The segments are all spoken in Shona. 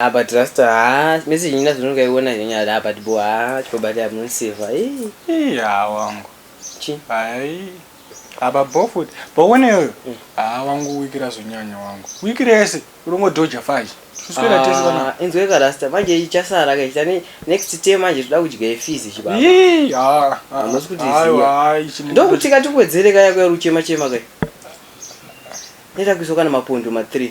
Ah, but Rasta, ah, message nyina zvinonga iona nyanya, ah, but bo, ah, chipabati amuniseva, ii. Ii, haa wangu. Chi? Hai. Aba bo futi. Bo one yoyo. Mm. Haa wangu wikira zvinyanya wangu. Wikira yese. Urongo doja faji. Kuswera tese vana. Ah, inzwe ka Rasta, manje ichasara ka ichita ne, next term manje tuda kudya ifizi chibaba. Ii, haa. Ah, Hamusi kuti ziya. Aiwa, haa, ichi. Ndokuti kati kuwedzere kaya kuya ruchema chema kaya. Neta kuiso kana mapundu ma 3.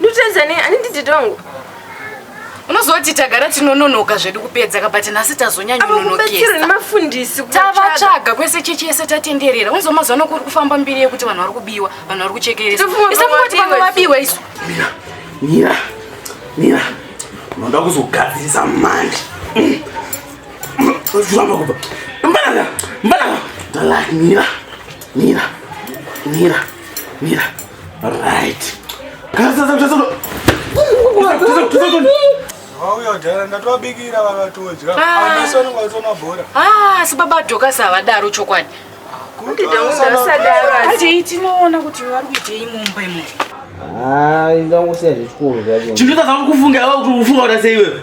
ndutedzane ani ndidhidha wangu unozoti tagara tinononoka zvedu kupedza ka but nhasi tazonyanyononokesaavachavatsvaga kwese chechi yese tatenderera unzo mazuva ano kuri kufamba mbiri yekuti vanhu vari kubiwa vanhu vari kuchekeresa isakungoti vamwe vabiwa isu mira mira mira unoda kuzogadzirisa mandi zviramba kubva mbanaka mbanaka dalak mira Mira, mira, mira. Right. asi baba dhokasi havadaro chokwadi ati tinoona kuti vari kuitei mumba imomo chinhu chatakufunga kuti ufunga kuti sei iwewe